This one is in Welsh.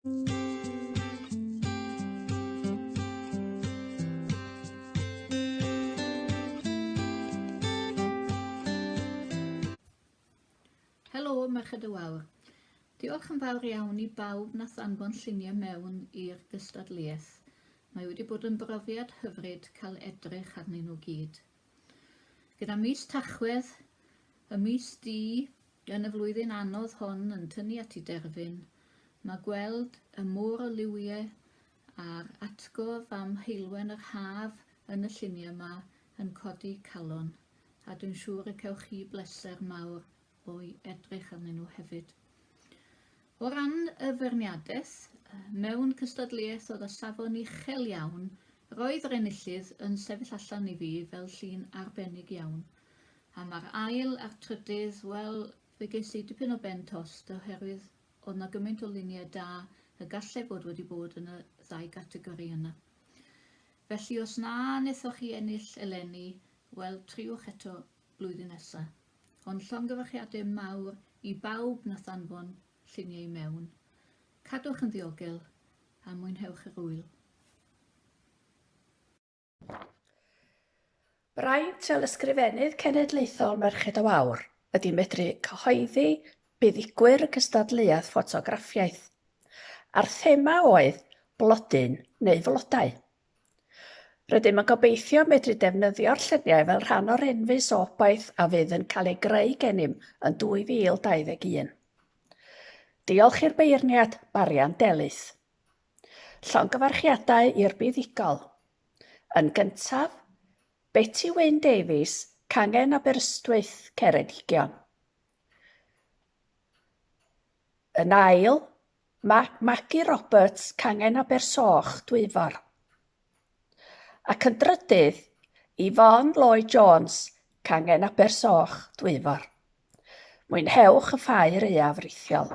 Helo, Merched y Wawr. Diolch yn fawr iawn i bawb na thanfon lluniau mewn i'r gystadleuaeth. Mae wedi bod yn brofiad hyfryd cael edrych arnyn nhw gyd. Gyda mis Tachwedd, y mis du yn y flwyddyn anodd hon yn tynnu at i derfyn, mae gweld y môr o liwie a'r atgof am heulwen yr haf yn y lluniau 'ma yn codi calon, a dwi'n siŵr y cewch chi bleser mawr o'i edrych arnyn nhw hefyd. O ran y feirniadaeth, mewn cystadleuaeth oedd o safon uchel iawn, roedd yr enillydd yn sefyll allan i fi fel llun arbennig iawn. A mae'r ail a'r trydydd, wel, fe ges i dipyn o ben tost oherwydd oedd na gymaint o luniau da y gallai fod wedi bod yn y ddau gategori yna. Felly os na nethoch chi ennill eleni, wel, triwch eto blwyddyn nesa. Ond llongyfarchiade mawr i bawb nath anfon llunie i mewn. Cadwch yn ddiogel a mwynhewch yr ŵyl. Braint fel Ysgrifennydd Cenedlaethol Merched o Fawr ydy medru cyhoeddi buddigwyr y cystadleuaeth ffotograffiaeth, a'r thema oedd 'Blodyn neu Flodau'. Rydym yn gobeithio medru defnyddio'r lluniau fel rhan o'r enfys obaith a fydd yn cael ei greu gennym yn 2021. Diolch i'r beirniad, Marian Delyth. Llongyfarchiadau i'r buddugol. Yn gyntaf, Beti Wyn Davies, Cangen Aberystwyth, Ceredigion. Yn ail, mae Maggie Roberts, Cangen Abersoch, Dwyfor. Ac yn drydydd, Yvonne Lloyd Jones, Cangen Abersoch, Dwyfor. Mwynhewch y ffair aeaf rithiol.